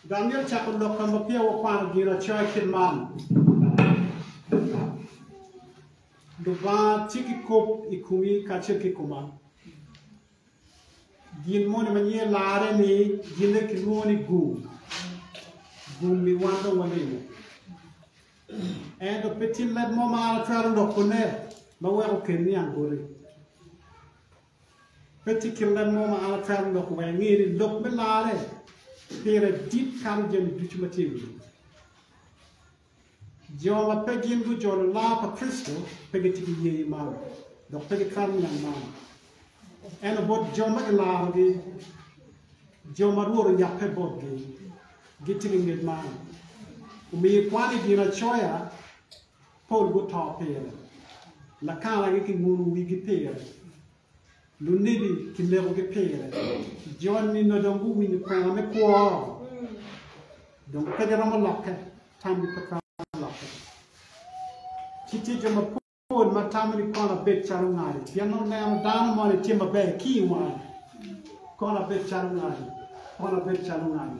Dong myero cako lok ka ma peya wakwano Ginacoya i kit man, Lubanga tye ki kop i komi kacel ki i koma. Gin moni ma nyinge larre ni ginne kilwongo ni gum. Gum-mi wan dong walimo. Ento pe tye leb mo ma an atwero lokone ma weko okelni angoli. Pe tye kit leb mo ma an atwero loko wek inge ni lok me larre pire dit kato jami ducu ma tye i wi lobo. Jo ma pe gin gujolo lar pa Kricito pe gitye ki yeye man, dok pe gitwero niang man. Ento bot jo ma gilarogi, jo ma Rwot oyakke botgi, gitye ki ngec man. Omiyo ikwane i Ginacoya. Pol guto pire, lakanagi kinguno wigi pire, lunebi kinekogi pire. Jo nino dong guwinyo kwena me kwo, dong pe giromo lokke, tamgi pe twero lokke. Ci tye jo mapol ma tamo ni kono abed calo ngati, pien nongo neno dano moni tye maber ki i wangi, kono abed calo ngati, kono abed calo ngati.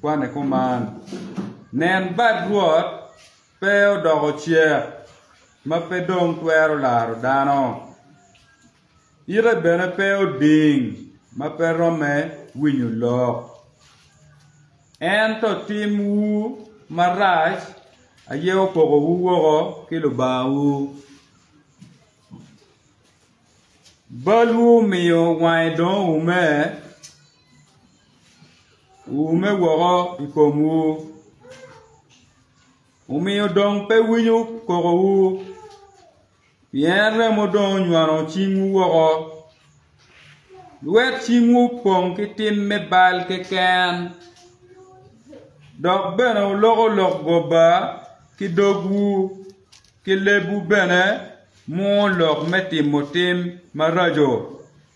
kwane kuman. Nen, bad Rwot pe odoko cek ma pe dong twero laro dano, ite bene pe oding ma pe romme winyo lok. Ento timwu marac aye opokowu woko ki Lubangawu, balwu omiyo wange dong oume Wuume woko i komwu, omiyo dong pe winyo kokowu, pien remo dong onywano cingwu woko, lwet cingwu opong ki tim me bal keken, dok bene wuloko lok goba ki dogwu, ki lebwu bene mwowo lok me timo tim maraco.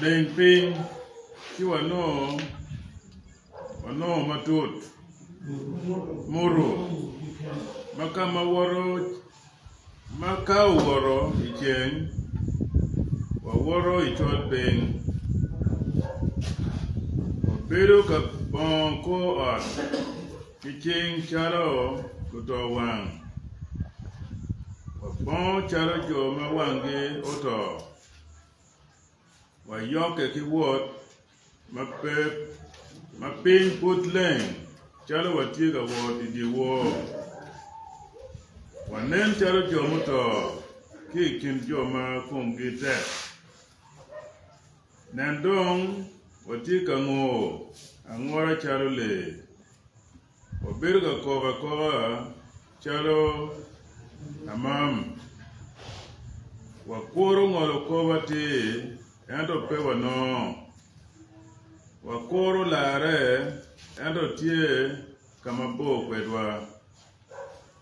Leng piny ci wanongo wanongo matut muto ma ka ma woto ma ka owoto i ceng wawoto i col piny wabedo ka bongo kor ot. Ki cing calo luto wang, wapongo calo jo ma wanggi oto, wayokke ki wot ma pe ma piny pud leng calo watye ka wot i dyewor. Wanen calo jo muto ki i kin jo ma komgi tek. Nen dong, watye ka ngo angora calo lee, wabedo ka kok akoka calo amam, wakuro ngolo kop atir, ento pe wanongo, wakuro larre, ento tye ka mabor kwedwa.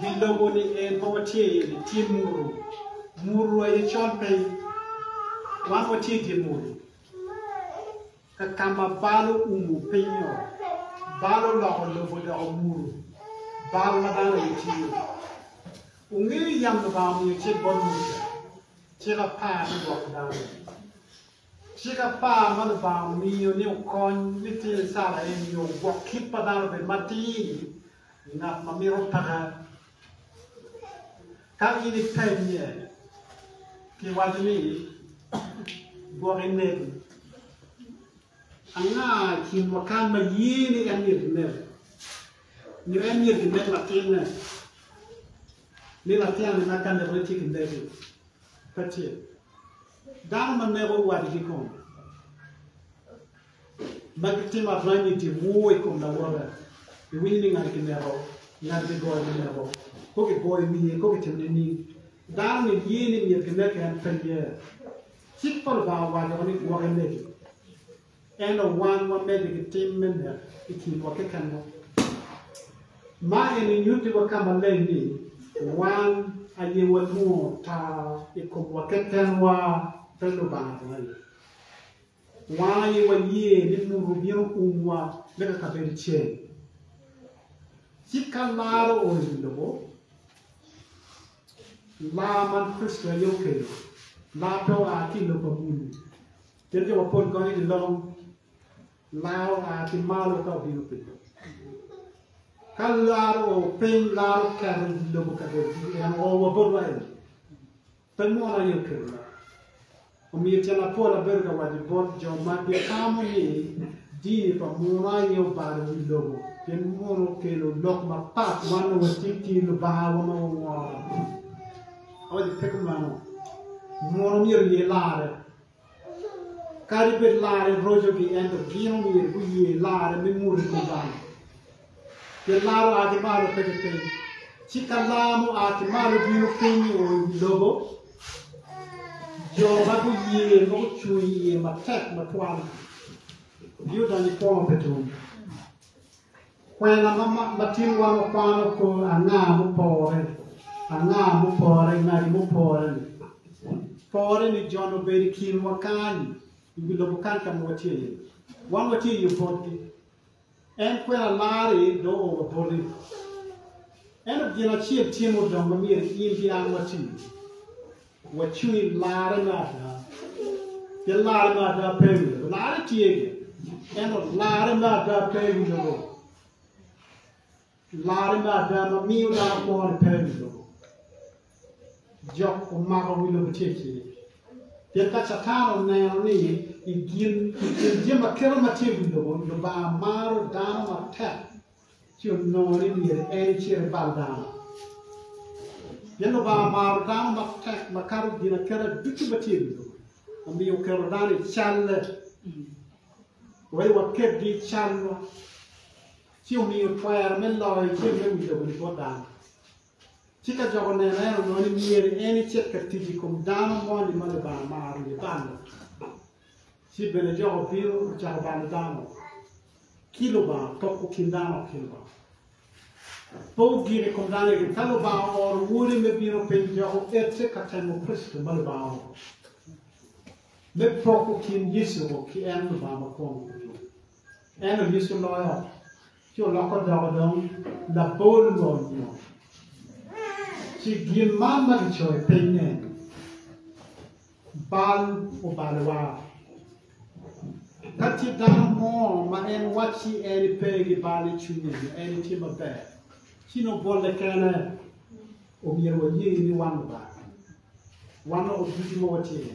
wi lobo ni en ma watye iye ni tye muru, muru aye col piny. Wan watye i dye muru, ka ka ma bal oumo piny-nyo, bal oloko lobo odoko muru, bal ma dano aye tye iye. Wungeyo yam Lubanga omiyo cik bot Muca, cik apar me gwoko dano. Cik apar ma Lubanga omiyo ni okony litino Icrael nyo ogwok kit pa dano obed matir, i ngat ma mito pake. Ka in ipennye pi waco ni gwok inego, anga i kinwa kany ma ye ni en myero kinego? Nyo en myero kinek latinne? Ni latinne ma ka nekone ci kinege? Pe tye. Dano ma neko wadgi kong. ma gitimo arany i dye mur i kom lawote, iwinyo ni ngati kineko, ngati kigoyo kineko, kong kigoyo wiye, kong kicito nining? Dano-ni niye ni myero kineke en pe ye. Cik pa Lubanga owaco ni gwok imegi, ento wan wamege ki tim me nek i kinwa kekenwa. Ma eni nyutti wa ka maleng ni wan aye walwongo taa i komwa kekenwa, pe Lubanga bene aye. Wan aye waye ni muto bino umwa me ka kabedo cel. Ci ka lar oo iwi lobo, lar man Kricito aye okelo. Lar pe oa ki i lok pa muni, pien jo mapol gonyo ni long lar oa ki malo ka obino piny. Ka lar oo piny, lar oketo iwi lobo kabedo ducu, en oo wa botwa eni. Pe mono aye oketo lok. Omiyo tyen apol abedo ka waco bot jo ma gitamo ni dini pa muno aye obalo wi lobo pien muno okelo lok mapat wan nongo watye ki lubangawa ma waworo. Awaco pe kumeno. Muno myero oye larre. Kadi bed larre rocogi ento gin omyero guye larre me mot i kom Lubanga. Pien lar oa ki malo pe ki piny. Ci ka lar mua ki malo bino piny o i wi lobo, jo ma guye ma gucung iye matek matwal giyudonyo i kwo ma pe tum. Kwena ma tinwa wakwano kor anga mupore, anga mupore, ngati mupore-ni. Pore-ni joni obedo i kinwa kany-ni, i wi lobo kany ka ma watye iye. Wan watye i yo botgi. En kwena mari dong ooro boti. Ento gin acel tye ma odong ma myero in ki an wati iye. Wacwi larre me ada, pien larre me ada pe i wi lobo. Larre tye gire, ento larre me ada pe i wi lobo. Larre me ada ma miyo dano kwo-ni pe i wi lobo. Jok omako wi lobo tye i cinge. Pien ka Catan oneno ni i gin i kin jami ma kelo ma tye i wi lobo, Lubanga maro dano matek, ci onongo ni myero en ecit ebal dano, pien Lubanga omaro dano matek makato ginaketa ducu ma tye i wi lobo, omiyo oketo dano i calle, wek waketgi i calwa, ci omiyo twero me loyo ceng me wi lobo-ni bot dano. Ci ka Jok oneno en, onongo ni myero en ecit ka tic i kom dano moni ma Lubanga maro ni balo. Ci bene Jok obino ocako balo dano ki Lubanga, poko kin dano ki Lubanga. Poko gik i kom dano eni, ka Lubanga ooro Wode me bino piny dok oete ka temo Kricito ma Lubanga ooro, me poko kin Yecu-gu ki en Lubanga ma kwongo. En onyiso loyo ci oloko doko dong labol lonyo. Ci gin man ma gicoyo piny ne, bal obalo wa. Ka tye dano mo ma en wacci en ipe gi bal i cwinye nyo en itye maber, ci nongo bolle kene omyero waye ni wan lubanga. Wan nongo ducu ma watye ni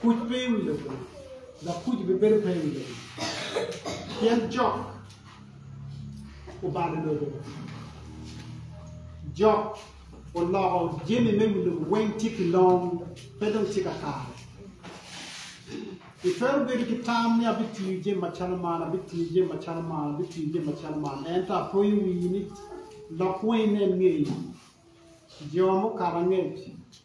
Kuc pe i wi labongo, dok kuc bibedo pe i wi labongo, pien jok obalo lobo, jok oloko jami me i wi lobo weng tye ki long, pe dong tye ka kare. Itwero bedo ki tam ni abitiyo jami macalo man, abitiyo jami macalo man, abitiyo jami macalo man, ento apoyo wii ni lok weng inen ngeye, jo mukato angec.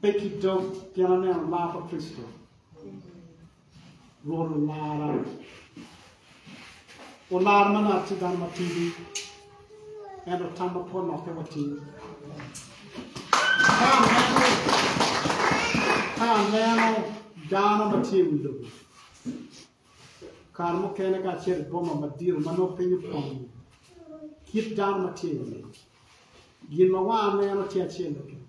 Pe ki dog pien aneno lar pa Kricito, Rwot olara, olara ma nongo atye dano matidi, ento tamma pe olokke watir. Ka aneno, ka aneno dano ma tye i wi lobo, kare mukene kacel i boma madito ma nongo piny opong kit dano ma tye iye. Gin ma wanga neno tye acel keken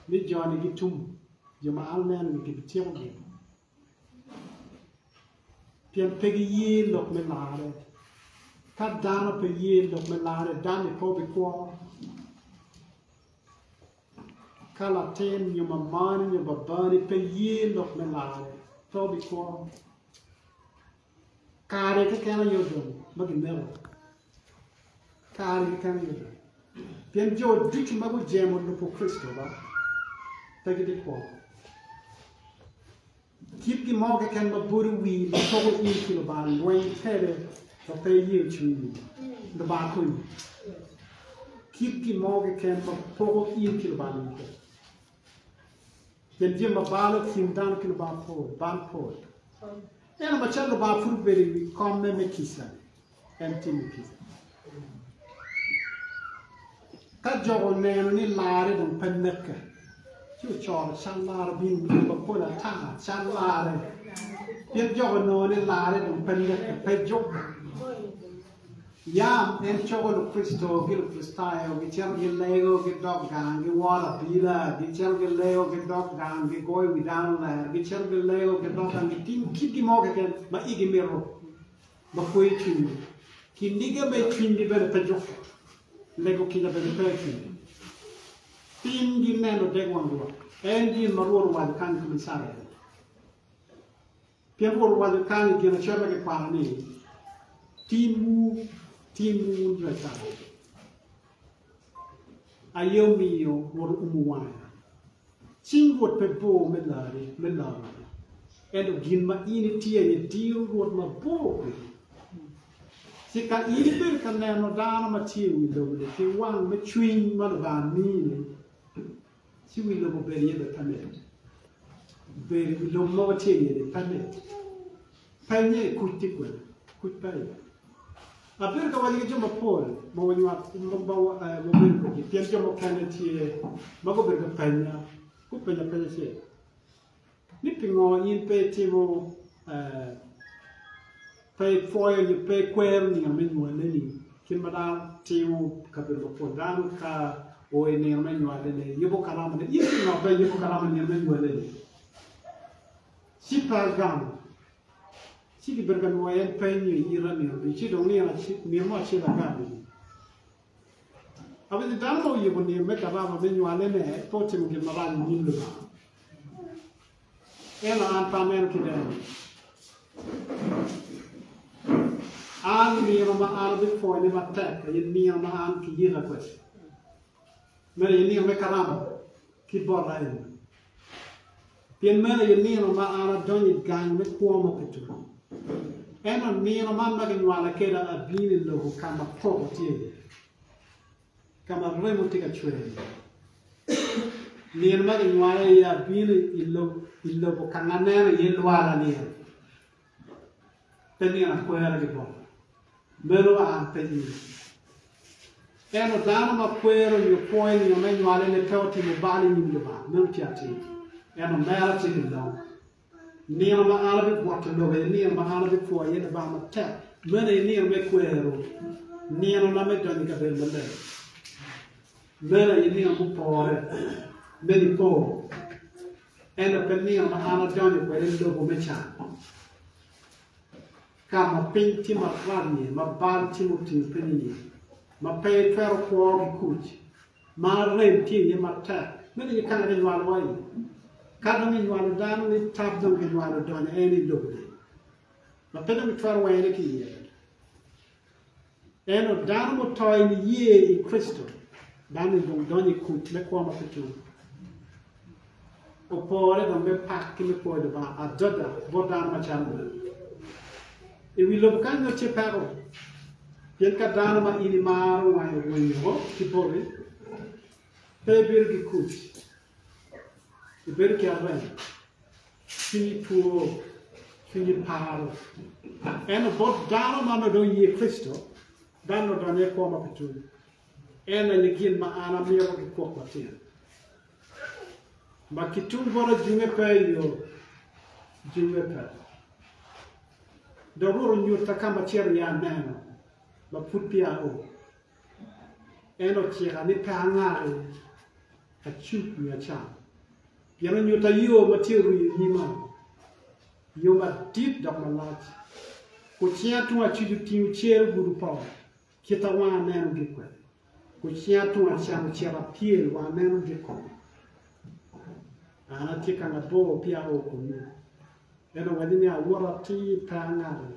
ni jo-ni gitum, jo ma an aneno ni gibityeko gin pien pe giye lok me larre. Ka dano pe ye lok me larre, dan-ni pe obikwo. Ka latin nyo mamani nyo babani pe ye lok me larre, pe wabikwo. Kare keken aye odong ma gimeko. Kare keken aye odong. Pien jo ducu ma gujemo Lubbo Kricitowa pe gibikwo. Kit gin mo keken ma bwodo wir ma poko in ki Lubanga lweny kwede wa pe iye ocungo Lubanga konyi. Kit gin mo keken ma poko in ki Lubanga lweny kwede. Pien jami ma balo i kin dano ki Lubanga pol, bal pol. Ento macalo Lubanga pud obedo i wi komme me kica, En timo kit. Ka jo oneno ni larre dong pe mette, ci ocoro cal larre bino i kit mapol ata, cal larre. Pien jo onongo ni larre dong pe mette, pe jubbe. Yam en coko Lukricito ki Lukricitayo gicito gilego, gidok gang, giworo abila, gicito gilego, gidok gang, gigoyo wi dano ler, gicito gilego, gidok gang, gitimo kitgi mo keken ma igi mito. ma kweyo cwinygi. Kiniga me cwinygi bene pe jukke, lego kica bene pe i kingi. Tin gineno dek wang Rwot, en gin ma Rwot owaco kany i kom Icrael. Pien Rwot owaco kany i Ginacel ma kikwano ni, Tinwu, tinwu wun jo Icrael! Aye omiyo wot oumo wanga. Cing Rwot pe bor me larre me laro, ento gin ma in itye iye diro Rwot mabor kwedi. Ci ka in ibedo ka neno dano ma tye i wi lobo-ni ki wang me cwiny ma Lubanga mini, Ci wi lobo obedo iye bene panet, obedo wi lobo mogo tye iye-ni panet. Pennye, Kuc tye kwene? Kuc pe aye. Abedo ka waco ki jo mapol ma wanywako wabedo kwedgi pien jo mukene tye ma gubedo ka penya gupenya peny acel. ni pingo in pe itimo, pe ipwoyo nyo pe ikwero nino me nywaleni, kit ma dano timo i kabedo mapol. Dano ka oo i nino me nywalene, yubo kalamane. In pingo pe iyubo kalama i nino me nywaleni? Ci pe agamo. Ci kibedo ka nwoyo en peny nyo i ita nino ducu, ci dong nino mo acel agamo-ni. Abedo dano ma oyiko nino me karama me nywalene pe otimo gin marac i nyim Lubanga. Ento an pe aneno kit eno-ni. An nino ma an abipwonye matek aye nino ma an kiyika kwede. Meno aye nino me karama ki bota eni. Pi meno aye nino ma an adonyo i gang me kwo ma pe tum, ento nino man ma ginywala keda abino i lobo ka ma koko tye iye, ka ma remo tye ka cwer iye. Nino ma ginywala iye abino i lobo ka ma neno iye lwala nino. Pe ni akwero i boma, meno an pe in. Ento dano ma kwero nyo pwoyo i nino me nywale ne pe otimo bal i nyim Lubanga, meno tye atir. Ento mera tye ki long. Nino ma an abigwokke lobo aye nino ma an abipwoyo aye Lubanga matek, meno aye nino me kwero, nino na me donyo i kabedo maleng. Meno aye nino mupore me Nipo. Ento pe nino ma an adonyo kwede lobo me can, ka ma piny tye maralni, ma bal tye mutingo piny iye, ma pe itwero kwo ki kuc, ma rem tye iye matek. Meno aye ka ma kinywalowa iye. Ka dong kinywalo dano ni tab dong kinywalo donyo en i lobo-ni, ma pe dong kitwero wene ki iye. Ento dano muto i niye i Kricito, dano-ni dong donyo i kuc me kwo ma pe tum. Opore dong me pak ki me pwoyo Lubanga adada bot dano macalo meno. I wi lobo kany nongo tye peko, pien ka dano ma in imaro wange orwenyo woko ki boti, pe ibido ki kuc Ibedo ki arem, cwinyi two, cwinyi paro. Ento bot dano ma nongo dong ye Kricito, dano nongo odonyo i kwo ma pe tum. En aye gin ma an amito ki kwok matyen. Ma ki tum bota junge pe i yo, junge pe. Dong Rwot onyutta ka ma cito iye aneno, ma pud peya ao. En ocika ni pe angari acuk nyo acam, pien onyutta yo ma tye oruu i nyima, yo madit dok malac. Kucinga tung acuc otingo cer ogudo pol, kit a wanga neno gi kwede, kucinga tung acam ocito apyel wa aneno gi kome. An atye ka mabor pi ao kunnu, en owaco ni, Awotta atir, pe angari.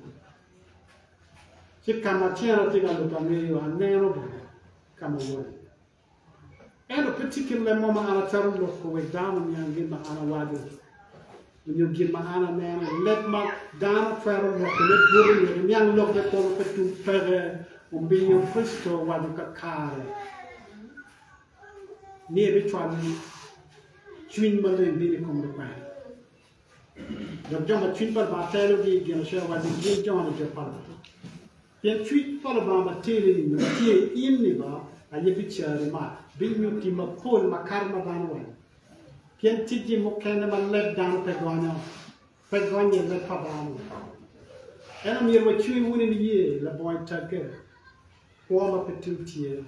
Ci ka ma tyen atye ka luto angeyo, aneno bene ka ma won iye. Ento pe tye kit leb mo ma an atwero loko wek dano oniang gin ma an awaco nyo gin ma an aneno. Leb ma dano twero lokone bute wek eniang lok me kwo ma pe tum peke omiyo Kricito owaco kakare ni ebicwalo cwiny maleng bino i kom lukwena. Dok jo ma cwiny pa Lubanga telogi i ginacel wadgi gin jo ma nijo pa Lubanga. Pien cwiny pa Lubanga ma teni-ni ma tye i in-ni ba aye biceri ma binyutti mapol makato ma dano weko. Pien ticgi mukene ma leb dano pe gonyo, pe gonnye leb pa dano weko. Ento myero wacwe wunu i niye labongo i tagge, kwo ma pe tum tye.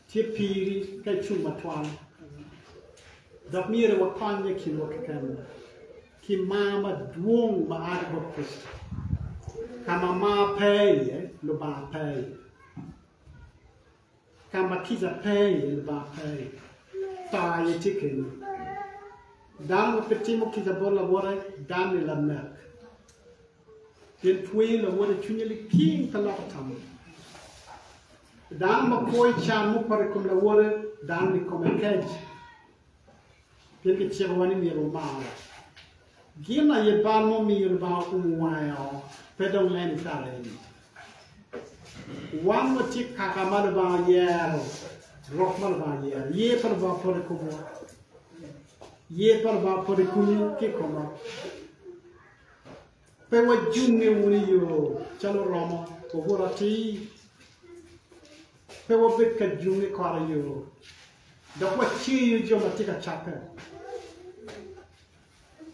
Tye piri ka icung matwal, dok myero wakonye kinwa keken ki mar madwong ma a ki bot Kricito. Ka ma mar pe iye, Lubanga pe iye. Ka ma kica pe iye, Lubanga pe iye. To aye tye keni. Dano ma pe timo kica bot lawote, dan-ni lanek. Pien twero lawot i cwinye liking ka loko tammo. Pi dano ma kwo i can mupoto i kom lawote, dano-ni kome kec. Pien kicikowa ni myero wamar gin aye bal ma omiyo Lubanga oumo wange woko, pe dong len i kare eni. Wan watye kaka ma Lubanga yero, rok ma Lubanga yero. Yer pa Lubanga poto i komwa. Yer pa Lubanga poto i komi ki i koma. Pe wajunge wunu i yo calo romo obuto atir, pe wabed ka junge kore i yo, dok waceyo jo ma tye ka cakke.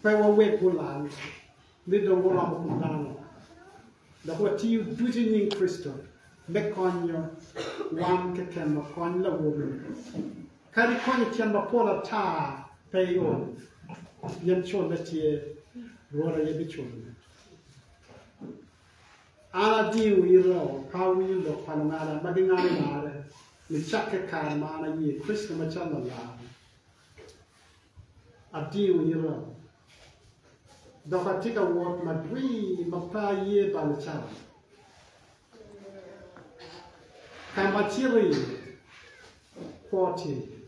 Pe wawek gulal, ni dong guromo kom dano, dok watiyo ducu i nying Kricito me konyo wan kekenwa kony lawobi-ni. Kadi kony i tyen mapol ata pe iol, pien colle tye, Rwot aye biculone. An adiyo ita pawi lok pa lungada ma gingado larre nicakke kare ma an aye Kricito macalo Lalargi. Adiyo ita, dok atye ka wot madwir ma pe aye balo cawa. Ka ma cito iye kwo tye iye,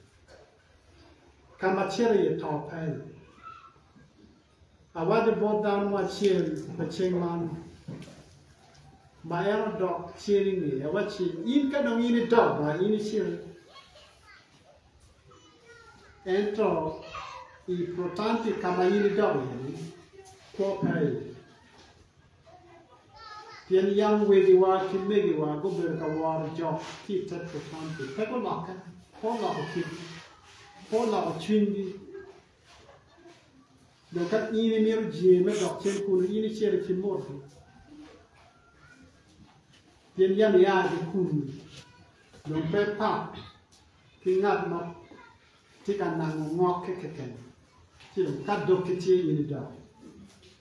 ka ma cito iye to pe iye. Awaco bot dano mo acel pa ceng man, ma en odok cen i ngeye, awacci, In ka dong in idok bar, in icen. Ento i Protanti ka ma in idok iye-ni, kwo pe iye. Pien yam wegiwa ki megiwa gubedo ka woro jok ki i te Putampi, pe gulokke, pe oloko kitgi, pe oloko cwinygi. Dong ka in imito jenge me dok cen kunnu, in icit i kin motgi, pien yam ia ki kunnu, dong pe ipak ki ngat ma tye ka nango ngokke keken, ci dong ka dog ki tye in idok.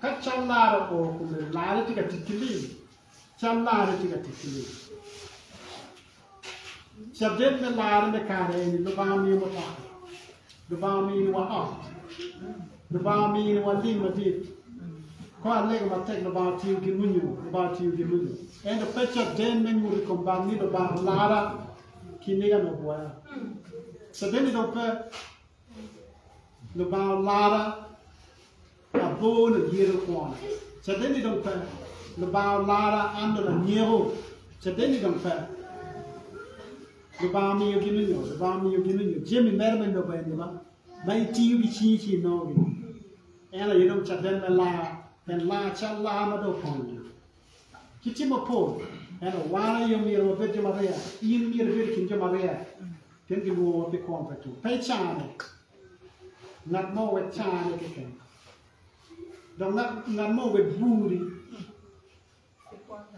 Ka callara oo kome larre tye ka tic ki lim, callarre tye ka tic ki lim. Caden me larre me kare eni Lubanga omiyo mutoka, Lubanga omiyowa ot, Lubanga omiyowa lim madit. Ka alego matek Lubanga otiyo gi lunyu, Lubanga otiyo gi lunyu. Ento pe caden me nyuto i kom bal ni Lubanga olara ki nigane ogwoya. Caden-ni dong pe. Lubanga omara, abor ladyere kwona. Cadenni dong pe. Lubanga omara, an dong anyeko. Cadenni dong pe. Lubanga omiyo gin onyo, Lubanga omiyo gin onyo. Jami mere me lobo eni ma ma itiyo ki cingi ci inongo gini. En aye dong caden me laa, pien laa cal laa ma dong opong-nyo. Ki tim mapol, ento wan aye omyero wabed jo mariya. In myero ibed i kin jo mariya, pien gilwongowa pi kwon pa Tum. Pe icane ngat mo, wek cane keken, dok ngat mo owek buri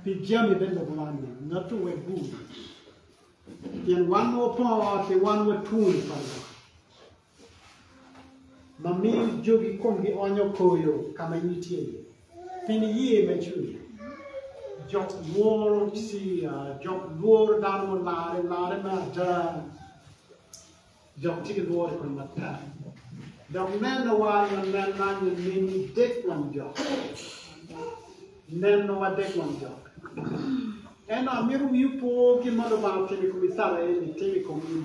pi jami me lobo man ni, ngatti owek buri, pien wan ma wapor ot-ti wan watwoni pa Lubanga. ma miyo jogi komgi onyo koyo ka ma in itye iye? Pi niye ma icung iye. Jok lworo Ciya, jok lworo dano mularre, larre me ada. Jok tye ki lworo i kome matek. Dok nenowa nyo nenna nyo nenni dek wang jok. Nenowa dek wang jok. Ento amito wi opo gin ma Lubanga otimo i kom Icrael, itimo i kom in.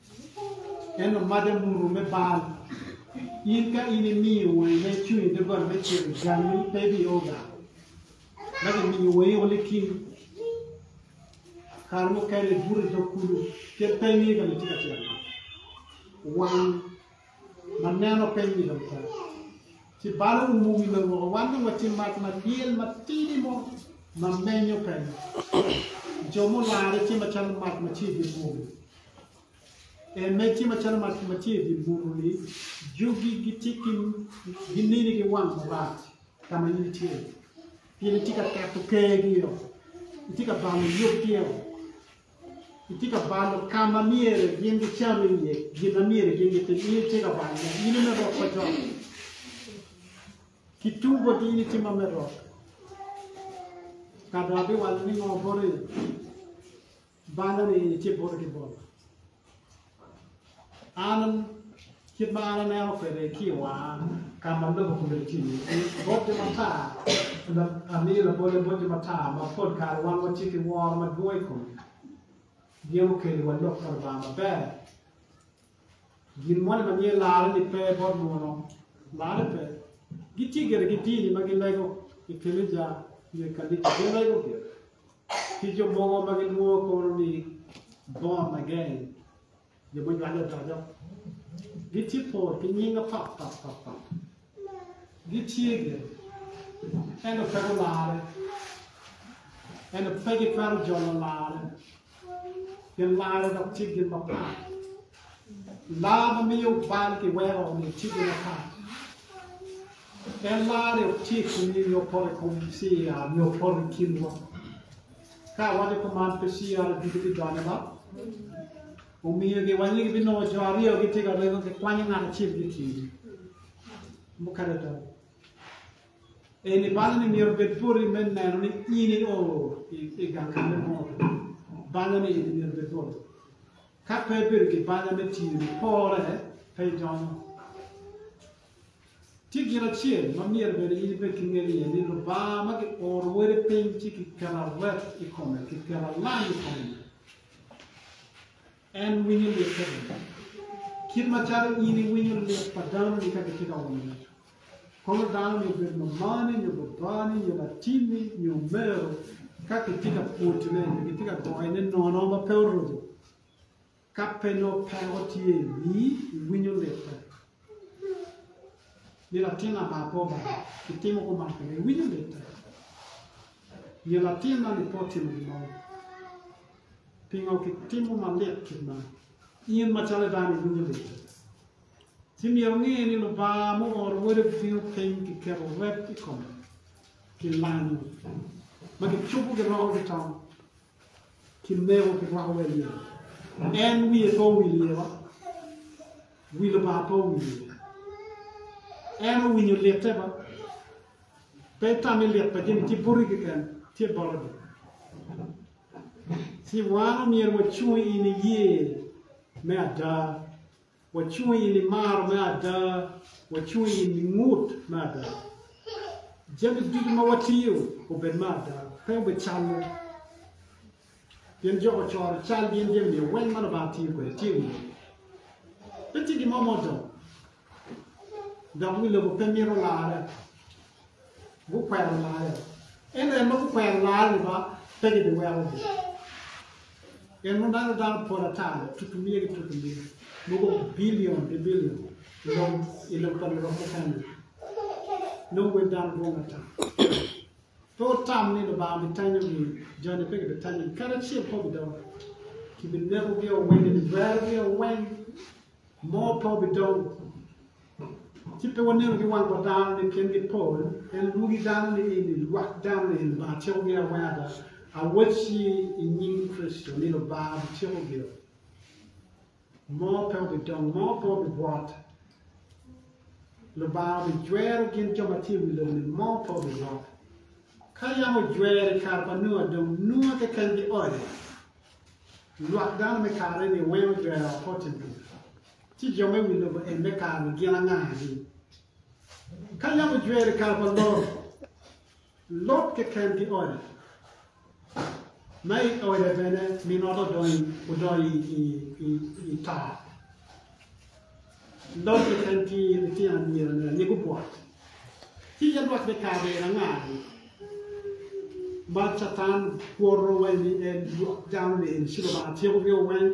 En omade muru me bal. In ka in imiyo wangi ma icung i doggola me ceng jammi pe ibiye oga. Dok imiyo wangi woko liking. Kare mukene ibuto i dog kulu kit pe imiyo ka ma itye ka tyeno-ni. Wang. ma neno piny ni dong tek ci balo umo wi lobo woko. Wan dong watye mac ma lyel matidi mo ma menyo kenyo. Jo mularre tye macalo mac ma tye i dye muni. Eme tye macalo mac ma tye i dye muni-ni, jogi gitye ki ginini ki wang marac ka ma in itye, pien itye ka keto kergio, itye ka balo yub gio. Itye ka balo ka ma myero gin gicam iye, gin ma myero gin gitim, in itye ka balo dok in ime rok pa cok. Ki tum boti in itye ma me rok. Ka dong abiwalo ni ngo boti, balo ni in itye boti ki boma. An kit ma an aneno kwede ki i wanga ka ma lobo kome tye iye, bote matar amiyo labolle bote matar ma pol kare wan watye ki woro madwong i kome gin okelo wa lok pa Lubanga maber. Gin moni ma myero larre-ni pe bot muno, larre pe. Gitye gire ki dini ma gilego i keleja nyo i kanisa, gilego gire. Ki jo mogo ma gilwongo kono ni Born Again, jo ma ojwale odoco, gitye pol ki nying apat pat pat pat. Gitye gire, ento pe gularre, ento pe gitwero jolo larre, gin larre dok tye gin mapat. Laa ma miyo bal ki weko onongo ticce mapat. En laane tye i komgi nyo poto i kom CAR nyo poto i kinwa. Ka awaco kuman pe CAR ducu bidonyo dok omiyo giwanye gibinongo jo aryo gitye ka rego gikwanyo ngat acel ki tye. Mukene do. Eni balo ni myero bed boti me neno ni in i o i gang kane mo. Balo ni eni myero bed boti. Ka pe ibedo ki banya me tiyo ni pore pe idonyo. Tye gin acel ma myero bene in ibed ki ngel iye ni Lubanga ma ki oro wode piny ci ki keto awet i kome, ki keto alam i kome ni en winyo lit te bene kit macalo in iwinyo lit pa dano ni ka gitye ka wongo ngec. Kor dano-ni obed mamani nyo babani nyo latinni nyo omero, ka kitye ka pwotone nyo kitye ka goyone nono ma pe oruko, ka pe nongo peko tye i wii, iwinyo lite? Ni latin aa pe obalo, kitimo kuman kwede, iwinyo lite? Nyo latin man-ni pe otimo gin mo, pingo kitimo malit kit man? In macalo dano iwinyo lite? Ci myero wunge ni Lubanga muoro Wode bino piny ki keto rep i kome, ki lango ma kicubo ki roko ki tong, ki meko ki rwako wa i ye. En wiye pe owil iye wa, wi Lubanga pe owil iye. En owinyo lite ba, pe itami lit pa jami ci buti keken, tye bolo dong. Ci wan omyero wacung i niye me ada. Wacung i nimaro me ada, wacung i ningut me ada. Jami ducu ma watiyo obed me ada, pe obed calle. Pien Jok ocoro cal gin jami nio weng ma Lubanga tiyo kwede tye i wiye. Pe tye gin mo ma odong, dok wi lobo pe mito larre. gukwero larre. Ento en ma gukwero larre-ni ba pe gibiwekogi, pien mogo dano dano pol ata tutu miye ki tutu miye, mogo bilion ki bilion i lobo pa Lubanga keken-ni, nongo wel dano dwong ata. Pe wutam ni Lubanga bitanyogi, jo-ni pe gibitanyogi kadi acel pe obidongo. Kibinekogi-o weng, kibigwerogi-o weng, mo pe obidongo. Ci pe wanenogi wang wa dano ni gin gipol, en lwogi dano ni eni lwak dano ni eni Lubanga cikogi awena ada. Awacci i nying Kricito ni Lubanga biciko gio. Mo pe obidong, mo pe obibwot. Lubanga obijwero gin jo ma tye i wi lobo ni mo pe obibwot. Ka yam ojwero i kare pa Nua dong Nua keken gioyo. Lwak dano me kare ni weng ojwero apote-ni. Ci jo me wi lobo en me kare-ni gin anga-ni? Ka yam ojwero i kare pa Lot, Lot keken ki ode, ma i ode bene min ot odonyo i taa, Lot keken ki litino anyirane aye gubwot. Ci yam dok bikare en anga-ni ma Catan kwoto wa ni en dano-ni en ci Lubanga tyeko bino weng?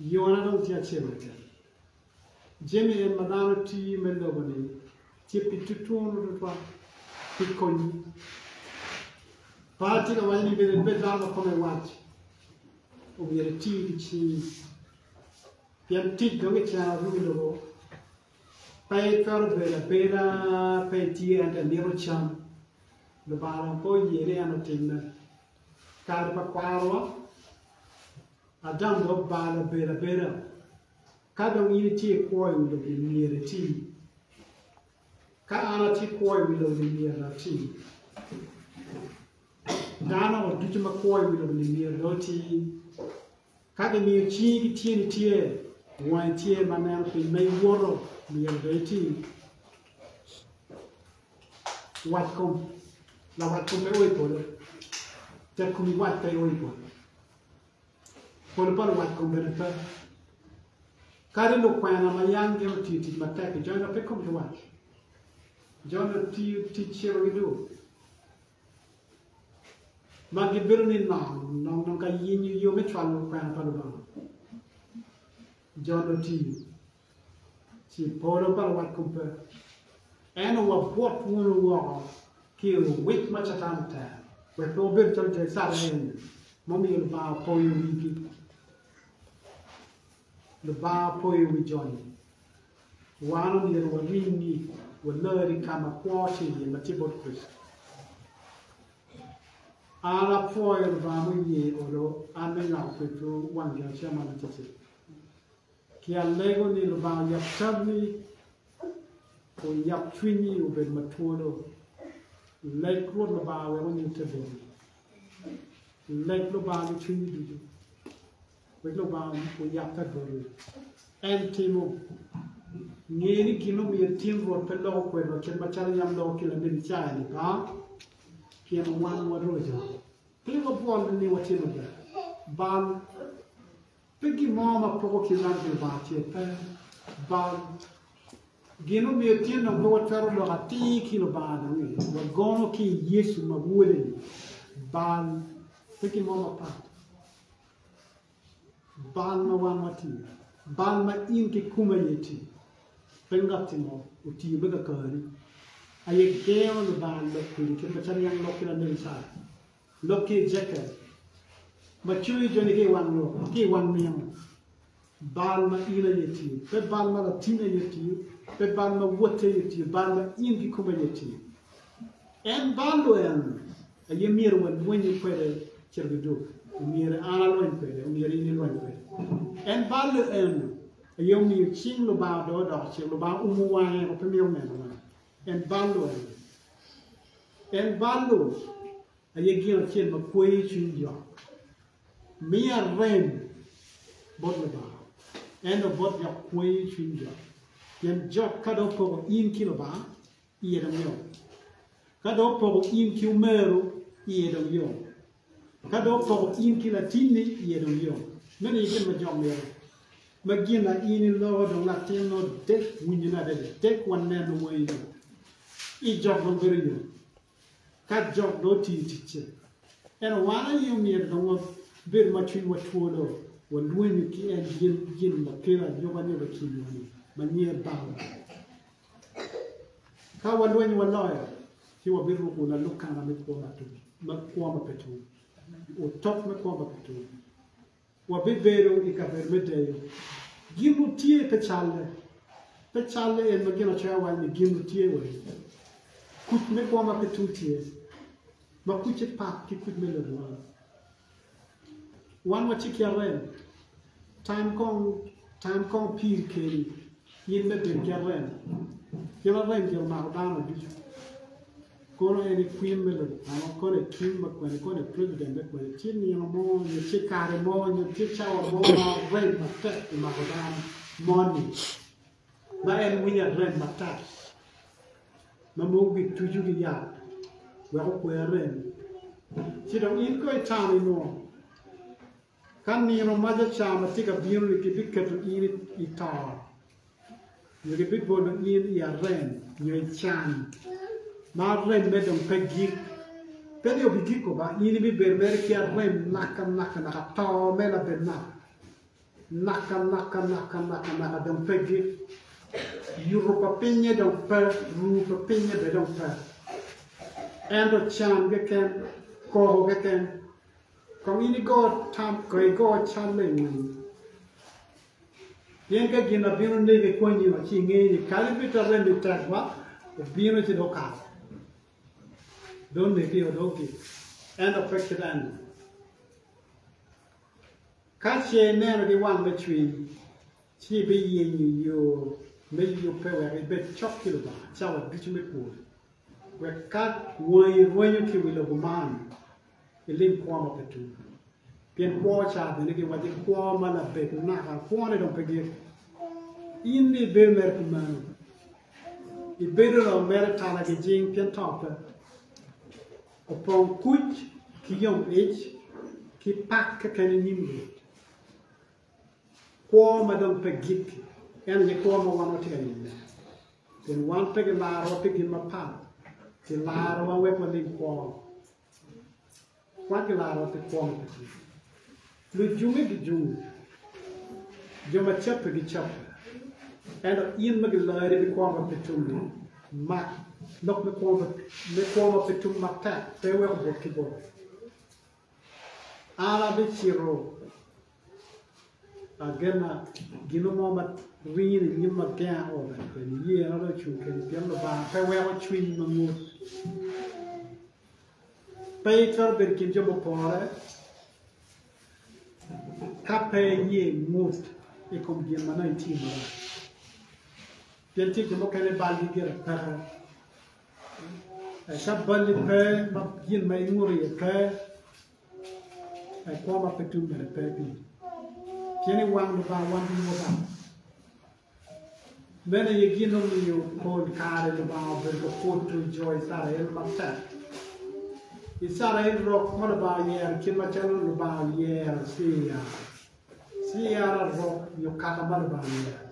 Yona dong tye acel keken. Jami en ma dano tiyo me lobo-ni tye pi tutunu tutwal, pi konyi. Par atye ka waco ni bene ibed dano ma kome wac, omyero iti ki cingi, pien tic dong kiceno adwogi i lobo, pe itwero bedo abeda pe itye ento imito cam. Lubanga dong pe oye ni en otimme. Kare pa kwarowa. Adam dok bal obedo abeda. Ka dong in itye i kwo i wi lobo myero iti. Ka an atye i kwo i wi lobo ni myero dok ati. Dano ducu ma kwo i wi lobo ni myero dong oti. Ka gimiyo cingi ki tyeni tye, wangi tye ma neno piny ma iwoto myero dong iti. Watkom, lawatkom pe o i polo, tekkom iwat pe o i polo. Pol pa luwat kom bene pe. Kadi lukwena ma yam gin otiyo tic matek i jona pe komgi wac. Jona otiyo tic ciro ki dul ma gibedo ni nongo nongo ka yenyo yo me cwalo lukwena pa Lubanga. Jona otiyo Ci polo pa wakubbe eno wabwot wunu woko ki i owic ma Catan otero, wek pe wabed calo jo Icrael-li ma omiyo Lubanga opoyo wigi. Lubanga opoyo wi jo-ni. Wan omyero waringi walar i ka ma kwo tye iye, ma tye bot Kricito. An apwoyo Lubanga muye olo an me nywako kwedwu wang gin acel man atir-tir. Ci alego ni, Lubanga oyab tabbi, oyab cwinyi obed ma twolo. Leg Rwot Lubanga wek onyutte boti. Leg Lubanga ki cwinyi ducu, wek Lubanga oyakke boti. En timo. Nge ni gin ma omiyo itin Rwot pe loko kwedwa kit macalo yam loko ki lanen Icaya-ni, ba, pien owangowa roco. Pe wabwol nining watimmi ber bal Pe gin mo ma poko ki rag Lubanga ce pe bal. Gin ma myero etyen dong pe watwero loko atir ki Lubanga dong i wagono ki i Yecu ma Wode-ni bal, pe gin mo mapat. Bal ma wan watiyo, bal ma in ki kumi aye itiyo, pe ngatti mo otiyo me kakari aye gengo Lubanga lok kwedi kit macalo yam lok ki Lanebi Icaya. Lok ki i Jekel, ma coyo joni ki i wang lok, ki i wang nino, bal ma in aye tye, pe bal ma latinni aye tye, pe bal ma wotti aye tye, bal ma in kikomi aye tye. En bal-lu en aye myero walwenye kwede cito ki duk, omyero an alweny kwede, omyero in ilweny kwede. En bal-lu en aye omiyo cing Lubanga odoyo odoko cik, Lubanga oumo wange wek pe myero onen wang. En balo aye. En balo aye gin acel ma kweyo cwiny Lwak. Miya rem bot Lubanga, ento bot Lwak kweyo cwiny Lwak. Pien Lwak ka dong opoko in ki Lubanga, iye dong yom. Ka dong opoko in ki omeru, iye dong yom. Ka dong poko in ki latinni iye dong yom, meno aye gin ma Jok mito. Ma gin ma in iloko dong latinno dek winyone adada, dek waneno mo in dong i Jok dong bedo yom. Ka Jok dong otiyo ticce, ento wan aye omyero dong wabed ma cwinywa two dong walwenyo ki en gin gin ma kelo anyobanyop i kinwa-ni ma nyinge Banga. Ka walweny waloyo, ci wabiruko lalukana me kwo ma tum, me kwo ma pe tum, otok me kwo ma pe tum. Wabibedo i kabedo me deyo gin nutye pe calle, pe calle en ma Ginacoya owaco ni gin nutye wai. Kuc me kwo ma pe tum tye, ma kucce pat ki kuc me lodwar. Wan watye ki arem, tam kong piri keni in me bedo ki arem, pien arem myero omako dano ducu, kono en i kwin me lobo kany, kono i king me kwen, kono i president me kwen, tye nino mo nyo tye kare mo nyo tye cawa mo ma arem matek omako dano moni. ma en winyo arem matek ma mogo gituco ki yat wek okwe arem ci dong in kono itamo ni nongo ka nino mac acama tye ka bino-ni kibiketo in i to nyo kibibolo in i arem nyo i can ma aremme dong pe gik pe ni obigiko ba in ibibedo mere ki arem nakanaka naka to me labenna. Maka maka maka maka maka dong pegi, yuto pa pinye dong pe, ruu pa pinye bene dong pe, ento can keken, koko keken. Kong in igo tam, kong igo cal i ngom, pien ka gin ma bino negi ikonyi wa ci inge ni kadi bed ta remmi tek wa, obino ci dong okato, dong onegio, dong ogik, ento pe kit enni. Ka ce ineno ki wang me cwiny, ci ibiyenyo yo me yubbe wek ibed cok ki Lubanga cawa ducu me kwoni, wek ka wangi rwenyo ki wi lobo man, ilim kwo ma pe tum. Pien kwo ca bene giwaco kwo ma labet naka, kwone dong pe gik. In ni ibedo mere pi mano? Ibedo mere tala gijing pien to pe. Opong kuc ki yomlic ki pak keken i nyim Rwot, kwo ma dong pe gikki, en aye kwo ma wan watye ka niyone. Pien wan pe gilarowa pi gin mapat, gilarowa wek walim kwo, wan gilarowa pi kwo ma pe tye. Lujunge gijungo, jo ma cappe gicappa, ento in ma giloyoni ki kwo ma pe tum ni, mak lok me kwo me kwo ma pe tum matek, pe iwek obot ki boti. An abicito agena gino mo ma ringo ni nyim agenga o bene kwede, iyena dong ocung keni, pien Lubanga pe weko cwiny ma ngut. Pe itwero bedo i kin jo mupore ka pe iyee ingut i kom gin ma nongo itye iyee ni. Pien tye jo mukene balgi gire peke, eka balli pe ma gin ma inguto iye pe, kwo ma pe tum bene pe piri. Pien i wang Lubanga wan gin mubalo. Meno aye gin omiyo pol kare Lubanga obedo ka pwodo jo Icrael matek. Icrael rok ma Lubanga oyero kit macalo Lubanga oyero Cira. Cira rok nyo kaka ma Lubanga oyero.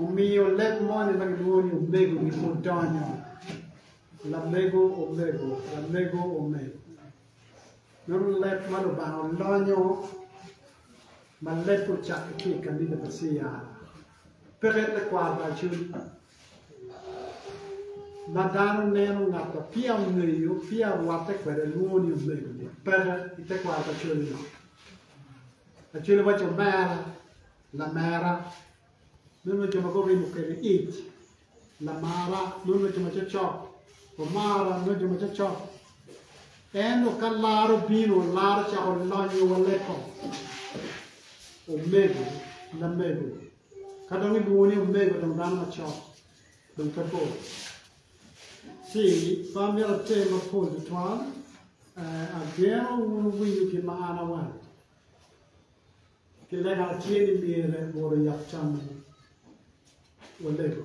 Omiyo leb moni ma gilwongo ni omego-ni odonyo. Lamego omego, lamego omego. Nongo leb ma Lubanga olonyo ma lebbe ocakke ki i kanisa pa CR peke tekwaro pa Acoli ma dano neno ngat ma peya ongeyo, peya orwatte kwede lwongo ni omego-ni, peke i tekwaro pa Acoli-nongo. Acoli waco omera, lamera. Meno jo ma gurimo kede ic lamara, meno jo ma cocok omara, meno jo ma cocok. Ento ka lar obino, lar ocako lonyo wa leko. Omego, lamego, ka dong ilwongo ni omego dong dano macok, dong pe bor. Ci ba myero ater mapol tutwal, eh, ageno wun wuwinyo gin ma an awaco. Pi lega tye ni myero woro yat cam mo walego.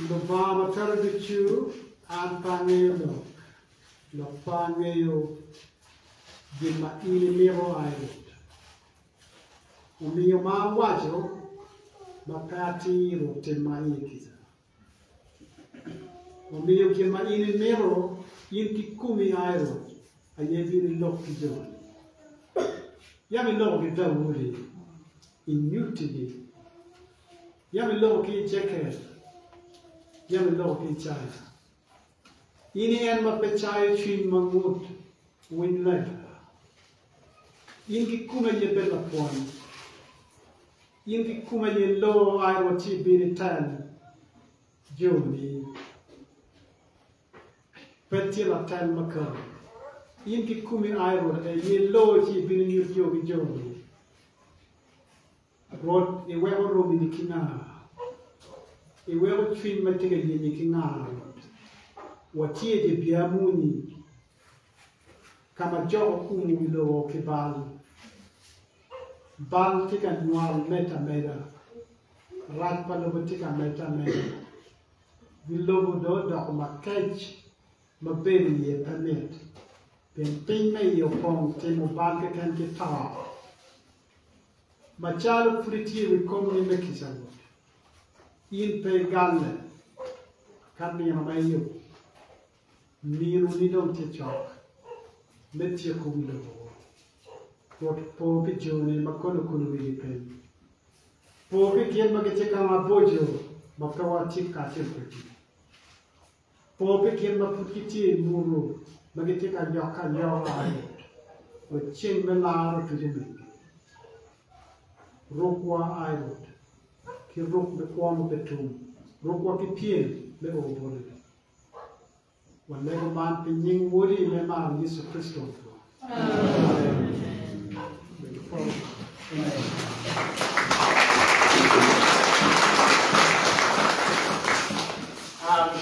Lubanga ma twero ducu, an pe angeyo lok, dok pe angeyo gin ma in imito a i rwot. Omiyo ma awaco ma pe atir otimma iye kica. Omiyo gin ma in imito, in kikomi a i Rwot aye ibino ilok ki joni. Yam iloko ki Daudi, inyuttigi, yam iloko ki Ejekiel, yam iloko ki Icaya. In i en ma pe cayo cwiny ma ngut, winy lega. In kikomi aye pe lapwony. In kikome aye iloo ai wa ci ibin ital joni. Pe tye latal makato. In kikomi ai Rwot adada, aye iloo ci ibin inyut yo ki joni. Rwot, iweko romini ki nga? Iweko cwiny ma tye ka yenyi ki nga, Rwot? Watye i dye bia muni. ka ma jo gukumo wi lobo ki bal. Bal tye ka nywal medde ameda, rac pa lobo tye ka medde ameda, gi lobo dong odoko makec ma bedo iye pe mit, pien piny ma iye opong timo bal keken ki to. Macalo pud itye i wi komgi me kica Rwot, in pe igalle ka nino ma iyubo. Minoni dong tye cok me tyeko wi lobo-gu. Rwot opo pi jone ma kono kulo wigi piny. Po pi gin ma gitye ka maboco ma pe watye kacel kwedgi. Po pi gin ma pud gitye i muru ma gitye ka nyokke anyoka-ni, wek ceng me lar otuc i mingi. Rukwa, ai Rwot, ki ruk me kwono pe tum, rukwa ki pyem me oo botoni. Walego man pi nying Wodi me mar Yecu Kricito. Amen.